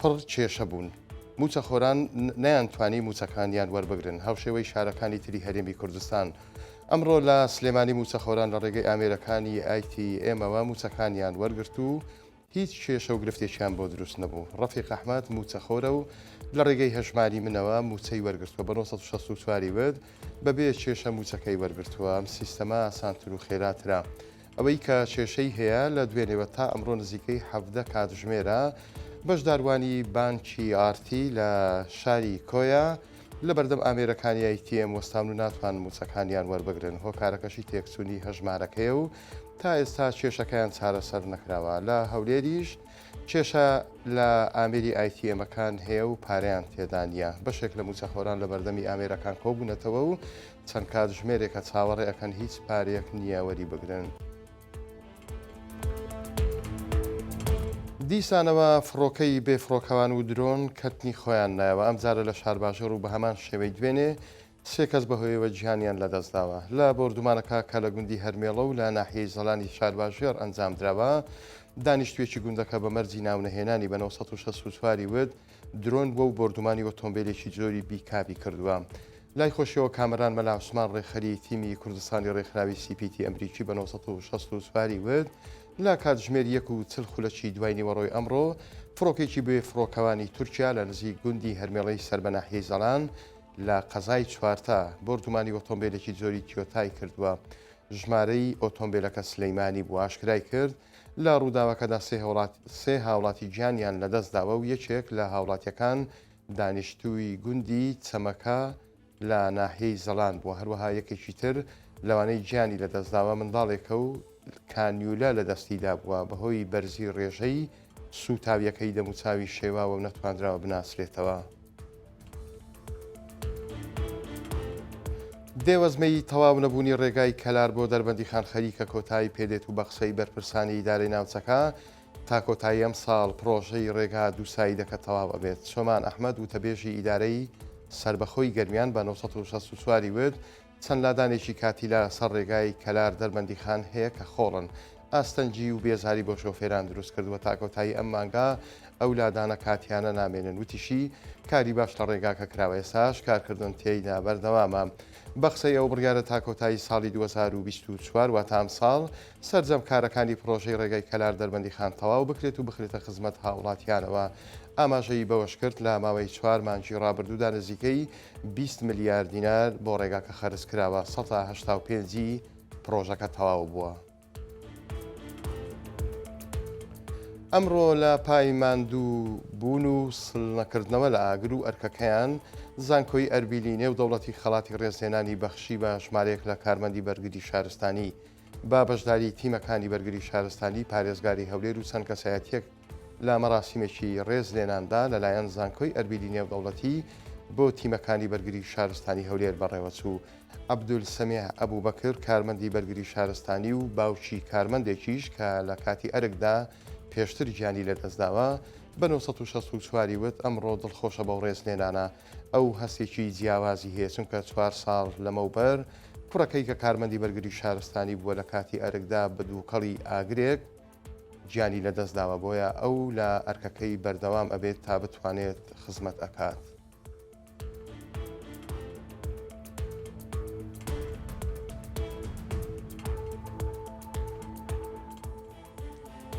پڕ کێشە بوون، مووچەخۆران نەیانتوانی مووچەکانیان وەربگرن، هاوشێوەی شارەکانی تری هەرێمی کوردستان، ئەمڕۆ لە سلێمانی مووچەخۆران لە ڕێگەی ئامێرەکانی ATM-ەوە مووچەکانیان وەرگرت و هیچ کێشە و گرفتێکیان بۆ دروست نەبوو، ڕەفیق ئەحمەد مووچەخۆرە و لە ڕێگەی هەژماری منەوە مووچەی وەرگرتووە، بە نۆ سەد و شەست و چوار ی وت بەبێ کێشە مووچەکەی وەرگرتووە، ئەم سیستەمە ئاسانتر و خێراترە. ئەوەی کە کێشەی هەیە لە دوێنێوە تا ئەمڕۆ نزیکەی حەڤدە کاتژمێرە بەشداروانی بانکی ئارتی لە شاری کۆیە لە بەردەم ئامێرەکانی ئەیتیێم وەستان و ناتوان موچەکانیان وەربگرن هۆکارەکەشی تێکچوونی هەژمارەکەیە و تا ئێستا کێشەکەیان چارەسەر نەکراوە لە هەولێریش کێشە لە ئامێری ئایتیێمەکان هەیە و پارەیان تێدانە بەشێک لە موچەخۆران لە بەردەمی ئامێرەکان کۆبوونەتەوە و چەند کاتژمێرێکە چاوەڕێ ئەکەن هیچ پارەیەک نییە وەری بگرن. دیسانەوە فڕۆکەی بێ فڕۆکەوان و درۆن کەتنی خۆیان نایەوە ئەمجارە لە شارباژێڕ و بە هەمان شێوەی دوێنێ سێ کەس بەهۆیەوە گیانیان لەدەستداوە لە بۆردومانەکە کە لە گوندی هەرمێڵە و لە ناحیەی زەلانی شارباژێڕ ئەنجامدراوە دانیشتوێکی گوندەکە بە مەرجی ناونەهێنانی بە 964 وت درۆن بووە و بۆردومانی ئۆتۆمبێلێکی جۆری بیکابی کردووە. لای خۆشیەوە کامەران مەلا عوسمان ڕێکخەری تیمی کوردستانی ڕێکخراوی سی پی تی ئەمریکی بە نۆ سەد و شەست و چوار ی وت لە کاتژمێر یەک و چل خولەکی دوای نیوەڕۆی ئەمڕۆ فڕۆکێکی بێ فڕۆکەوانی تورکیا لە نزیک گوندی هەرمێڵەی سەر بە ناحیەی زەلان لە قەزای چوارتا بۆردومانی ئۆتۆمبێلێکی جۆری تیۆتای کردووە ژمارەی ئۆتۆمبێلەکە سلەیمانی بوو ئاشکرای کرد لە ڕووداوەکەدا سێ هاوڵاتی گیانیان لەدەستداوە و یەکێک لە هاوڵاتیەکان دانیشتووی گوندی چەمەکە لە ناحیەی زەڵان بووە، هەروەها یەکێکی تر لەوانەی گیانی لەدەستداوە منداڵێکە و کانیولە لە دەستیدا بووە، بەهۆی بەرزی ڕێژەی سووتاویەکەی دەموچاوی شێواوە و نەتوانراوە بناسرێتەوە. دێوەزمەی تەواو نەبوونی ڕێگای کەلار بۆ دەربەندیخان خەریکە کۆتایی پێدێت و بە قسەی بەرپرسانی ئیدارەی ناوچەکە، تا کۆتایی ئەمساڵ پڕۆژەی ڕێگا دوو سایدەکە تەواو ئەبێت. سۆمان ئەحمەد وتەبێژی ئیدارەی سەربەخۆی گەرمیان بە نۆ سەد و شەست و چوار ی وت، چەند لادانێکی کاتی لە سەر ڕێگای کەلار دەربەندیخان هەیە کە خۆڵن، ئاستەنگی و بێزاری بۆ شۆفێران دروست کردووە، تا کۆتایی ئەم مانگە ئەو لادانە کاتییانە نامێنن. وتیشی، کاری باش لە ڕێگاکە کراوە، ئێستاش کارکردن تێیدا بەردەوامە. بە قسەی ئەو، بڕیارە تا کۆتایی ساڵی دوو هەزار و بیست و چوار واتە ئەمساڵ سەرجەم کارەکانی پڕۆژەی ڕێگای کەلار دەربەندیخان تەواو بکرێت و بخرێتە خزمەت هاوڵاتییانەوە. ئاماژەی بەوەشکرد، لە ماوەی چوار مانگی ڕابردوودا نزیکەی بیست ملیار دینار بۆ ڕێگاکە خەرج کراوە، سەتا هەشتا و پێنج ی پڕۆژەکە تەواو بووە. ئەمڕۆ لە پای ماندوو بوون و سڵنەکردنەوە لە ئاگر و ئەرکەکەیان، زانکۆی ئەربیلی نێو دەوڵەتی خەڵاتی ڕێزلێنانی بەخشی بە ژمارەیەک لە کارمەندی بەرگری شارستانی، بە بەشداری تیمەکانی بەرگری شارستانی، پارێزگاری هەولێر و چەند کەسایەتیەک. لە مەراسیمێکی ڕێز لێناندا لەلایەن زانکۆی ئەربیلی نێودەوڵەتی بۆ تیمەکانی بەرگری شارستانی هەولێر بەڕێوەچوو، عەبدول سەمیع ئەبوبەکر کارمەندی بەرگری شارستانی و باوکی کارمەندێکیش کە لە کاتی ئەرکدا پێشتر گیانی لەدەستداوە بە نۆ سەد و شەست و چوار ی وت ئەمڕۆ دڵخۆشە بەو ڕێزلێنانە ئەو هەستێکی جیاوازی هەیە چونکە چوار ساڵ لەمەوبەر کوڕەکەی کە کارمەندی بەرگری شارستانی بووە لە کاتی ئەرکدا بە دووکەڵی ئاگرێک گیانی لە دەست داوە بۆیە ئەو لە ئەرکەکەی بەردەوام ئەبێت تا بتوانێت خزمەت ئەکات.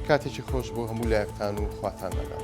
کاتێکی خۆش بۆ هەموو لایەکتان و خواتان لەگەڵ.